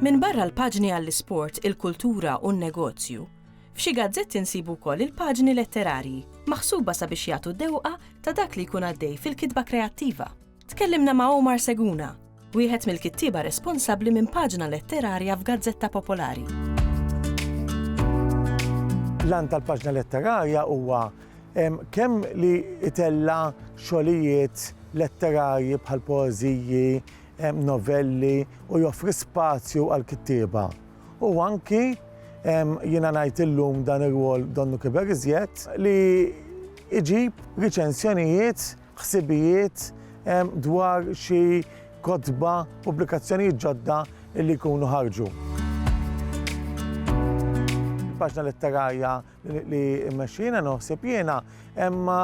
Minbarra l-paġni għall-isport, il-kultura u n-negozju, f'xi gazzetti nsibu wkoll il-paġni letterarji, maħsuba sabiex jagħtu dewqa ta' dak li jkun għaddej fil-kitba kreattiva. Tkellimna ma' Omar Seguna, wieħed mill-kittieba responsabbli minn paġna letterarja f'gazzetta popolari. L-għan tal-paġna letterarja huwa kemm li itella xogħlijiet letterarji bħal poeżiji, novelli u joffri spazju għal kittieba. U anki jiena ngħid illum dan ir-rwol donnu kiber iżjed li iġib riċensjonijiet ħsibijiet dwar xi kotba, pubblikazzjonijiet ġodda li jkunu ħarġu. Il-paġna letterarja li mmexxi jiena noħsib jiena imma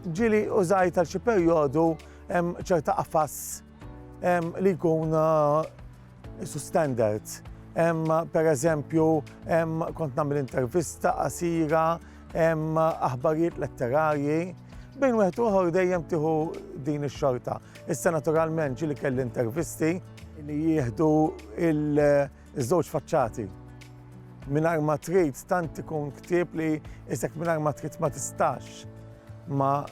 ġieli użajt għal xi perjodu ċerta qafas li jkun Isu standards. Hemm pereżempju hemm kont nagħmel intervista qasira, hemm aħbarijiet letterarji, bejn wieħed uħor dejjem tieħu din ix-xorta. Issa naturalment ġili kelli intervisti li jieħdu il-żewġ faċċati. Minar ma trid tant ikun ktieb li isek minar ma trid ma tistax ma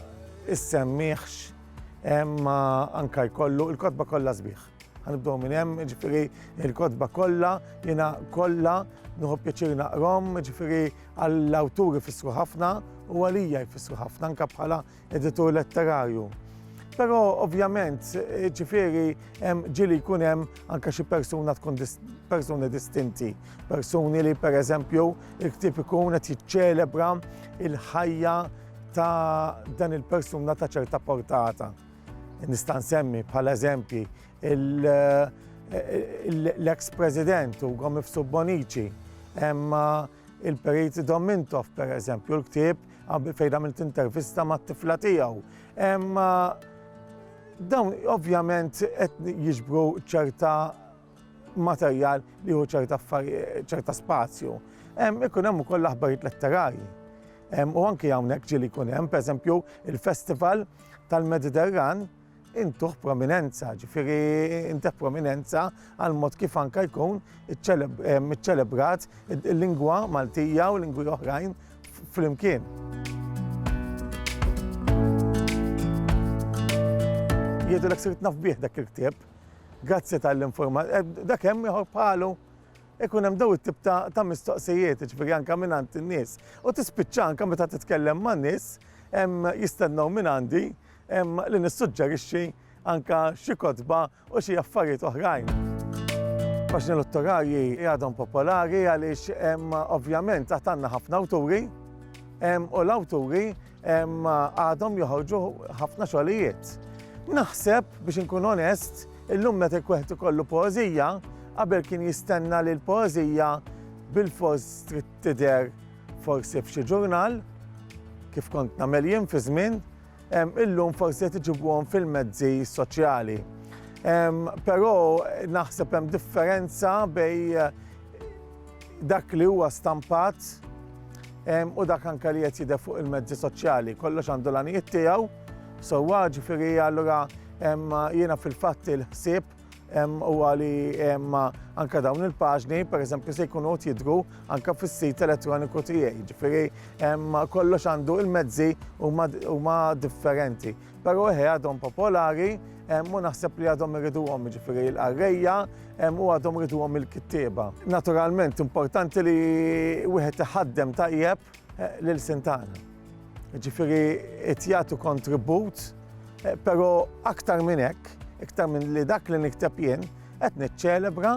issemmiħx ma anka jkollu il-kotba kollha sbieħ. Ħanibdew minn hemm, ġifieri l-kotba kollha, jiena kollha nuħu pjaċir naqrom, ġifieri għall-awturi fissru ħafna u għalija jfissru ħafna anke bħala editur letterarju. Però ovvjament, ġifieri ġili jkun hemm anke xi persuna tkun persuni distinti, persuni li pereżempju il-ktieb ikun qed jiċċelebra il-ħajja ta' dan il-persuna ta' ċerta portata. Nista' nsemmi bħala eżempji l-eks President Ugo Mifsud Bonnici, imma il-Perit Dom Mintoff per eżempju, l-ktieb fejn għamilt intervista mat-tifla tiegħu. Imma dawn ovvjament qed jiġbru ċerta materjal li hu ċerta ċerta spazju. Ikun hemm ukoll l-aħbarijiet letterari. U anki hawnhekk ġieli jkun hemm, pereżempju, il-Festival tal-Mediterran intuħ prominenza, ġifiri intuħ prominenza għal mod kif anka jkun iċċelebrat il-lingwa Maltija u lingwi oħrajn fl-imkien. Jiedu l-ek sirt nafbieħ dak il-ktib, Grazzi tal-informazzjoni. Eh, dak hemm ieħor bħalu ikun hemm daw it-tip ta' mistoqsijiet, ġifieri anke minn għand in-nies. U tispiċċa anke meta titkellem man nies jistennew minn għandi li nissuġġerixxi anke xi kotba u xi affarijiet oħrajn. Paxni l-ottorarji jgħadhom popolari għaliex ovvjament taħt għandna ħafna awturi u l-awturi Għadhom joħorġu ħafna xogħlijiet. Naħseb biex inkun onest, illum meta wieħed ikollu poeżija, qabel kien jistenna li l-poeżija bil-fors trid tidher forsi f'xi ġurnal, kif kont nagħmel jien fi żmien, illum forsi qed iġibuhom fil-mezzi soċjali. Però naħseb hemm differenza bej dak li huwa stampat u dak anke li qed jidher fuq il-mezzi soċjali. Kollox għandu l-għanijiet tiegħu, sewwa ġifieri allura jiena fil-fatt il-ħsieb u għali anka dawn il-paġni, per eżempju, se jkunu jidru anka fis-sit elettroniku tiegħi. Ġifieri kollox għandu il-mezzi huma differenti. Però eħe għadhom popolari u naħseb li għadhom iriduhom jiġifieri l-qarrejja u għadhom iriduhom il-kittieba. Naturalment importanti li wieħed iħaddem tajjeb eh, lil Sintana. Jiġifieri qed jagħtu kontribut, eh, però aktar minn hekk, iktar minn li dak li nikteb jien, qed niċċelebra